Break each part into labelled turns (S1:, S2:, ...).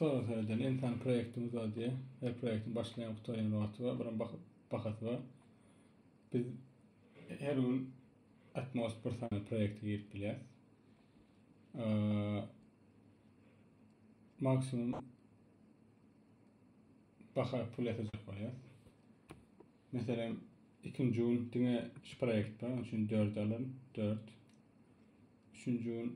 S1: Bu sorag seredende insan proýektini uzaldýar. Her proýektiň başlaýan, gutarýan wagty bar, buram bak- bahasy bar. Biz her gün atmost bir sany proýekte girip bilýäris. Eee, maksimum baha pul ýatyrjak bolýar. Meselem, ikinji gün diňe şu proýekt bar, onuň üçin dört alyryn, dört. Üçünji gün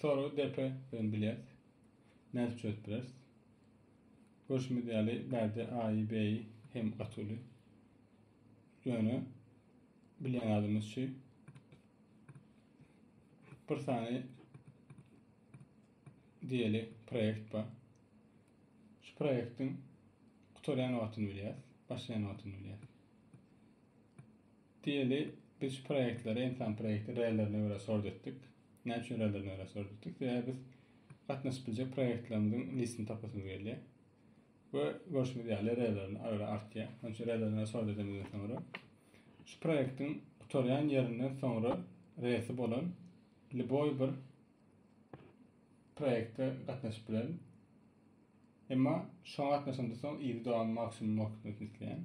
S1: Soragy depe bilen bilýäs. Nädip çözüp bileris? Görşümiz ýaly, bärde A-y, B-y hem gaty uly. Ýöne bilýän adamymyz şu. Bir sany diýeli proýekt bar. Şu proýektiň gutarýan wagtyny bilýäs, başlaýan wagtyny bilýäs. Diýeli, biz şu proýektleri, ensan proýekti relerine görä sort etdik. Näme üçin relerine görä sort etdik? Sebäbi biz gatnaşyp biljek proýektlerimiziň listini tapasymyz gelýär. We görşüňiz ýaly, relerine ara artýar. Şonuň üçin relerine görä sort edemizden soňra, şu proýektiň gutarýan ýerinden soňra resi bolan liboý bir proýekte gatnaşyp bilerin. Emma şoňa gatnaşandan soň yzy dowam maksimum wagtyny isleýän.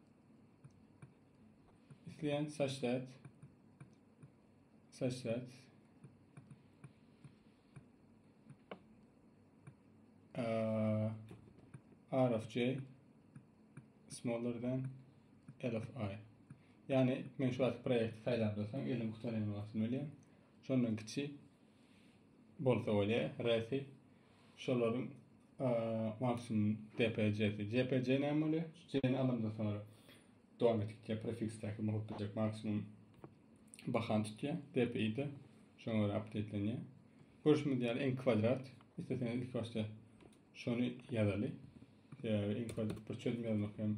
S1: Isleýän saçlat. Saçlat. Uh, R of J smaller than L of I. Yani men şu wagt proýekti saýlap dursaň, elim gutaran wagtym ölýär. Şondan kiçi bolsa bolýar, resi, şolaryň maksimum DPJ-si. JPJ näme bolýar? Şu J-ni alamdan soňra dowam etdikçe prefiksdäki mugt biljek maksimum bahany tutýar. DPI-de şoňa görä apdetlenýär. Görşümiz ýaly n kwadrat. Isleseňiz ilk başda şony ýazaly. Sebäbi n kwadrat bir çözüm ýazmak hem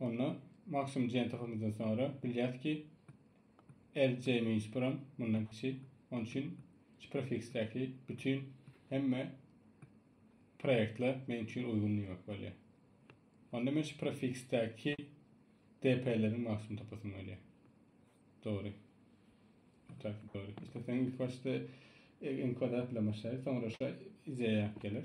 S1: Onda maksimum diýen tapymyzdan soňra bilýäs ki, LJ minus 1 hem mundan kiçi. Onun üçin şu prefiksdäki bütün hemme proyektler men üçin uygun diýmek bolýar. Onda men şu prefiksdäki DP-leriň maksimum tapasym gelýär. Dogry. Otak dogry. İşte sen ilk başda e, en kwadrat bilen başlaýar, soňra şu izeye gelir.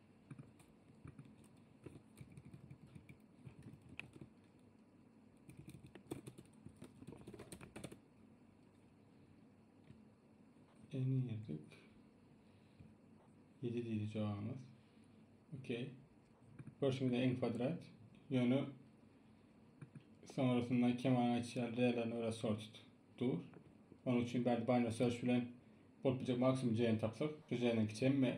S1: Eni girdik. 7 diýdi jogabymyz. Okey. Görşüňizde en kwadrat. Ýöne sonrasynda kemal açýar relerni öre sort dur. Onun için ben binary search bilen bulup bilecek maksimum ceyini tapsak. Şu ceyinin kiçemi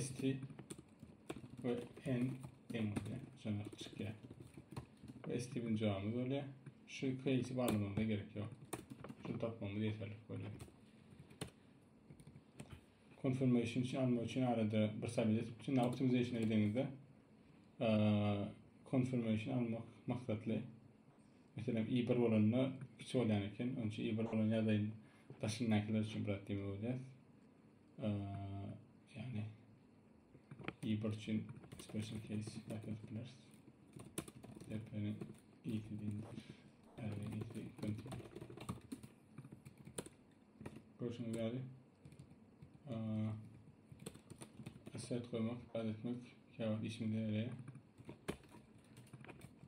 S1: ST ve N deňizde şonaq çykýar. ST bilen jogabymyz bolýar. Şu iki eýsi barlamamyza gerek ýok. Şunu tapmamyz ýeterlik bolýar. Confirmation üçin almak üçin arada bir sabit etip şunda optimization ediňizde confirmation almak maksatly Meselem i bir bolanda kiçi bolýan eken. Onça i bir bolan ýadaýyň daşyndakylar üçin brat diýmek bolýar. Ýagny i bir üçin special case ýatyp bileris. Depeni i diýmek. Ýagny i iki kontin. Görüşmek ýaly. Asset goýmak, aýdytmak, käwagt işimize ýaraýar.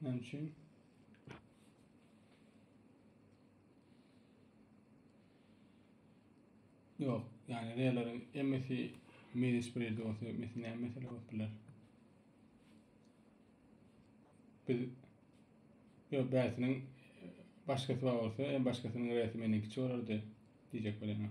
S1: Näme üçin? Ýok, ýani reýleriň emmesi minus bir ýerde bolsa, emmesi näme mesele bolup biler? Biz ýok, bäsiniň başgasy bar bolsa, em başgasynyň reýli meniň kiçi bolardy diýjek bolýan.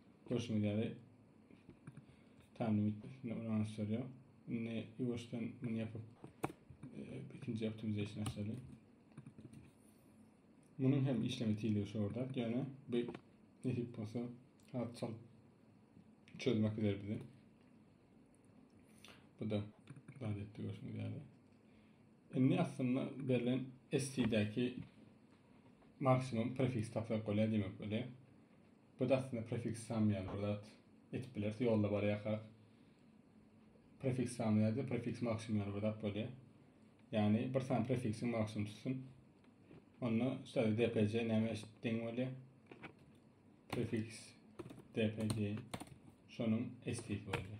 S1: Görşüňiz ýaly, time limit üstünde ulanyş ýörýär. Indi ýuwaşdan muny ýapyp, ikinji optimization açaly. Munuň hem işleme tizligi şordak, ýöne bu nesip bolsa has çalt çözmek eder bizi. Bu da dahat etdi görşüňiz ýaly. Indi aslynda berlen ST-däki maksimum prefiks taslap bolýar diýmek bolýar. Bu-da aslynda prefiks sam ýaly bir zat. Etip bileris, ýolda barýarkak. Prefiks sam ýa-da prefiks maksimum ýaly bir zat bolýar. Ýagny bir sany prefiksiň maksimum tutsun. Onda şeýle dpc näme deň bolýar? Prefiks dpc şonuň estisi bolýar.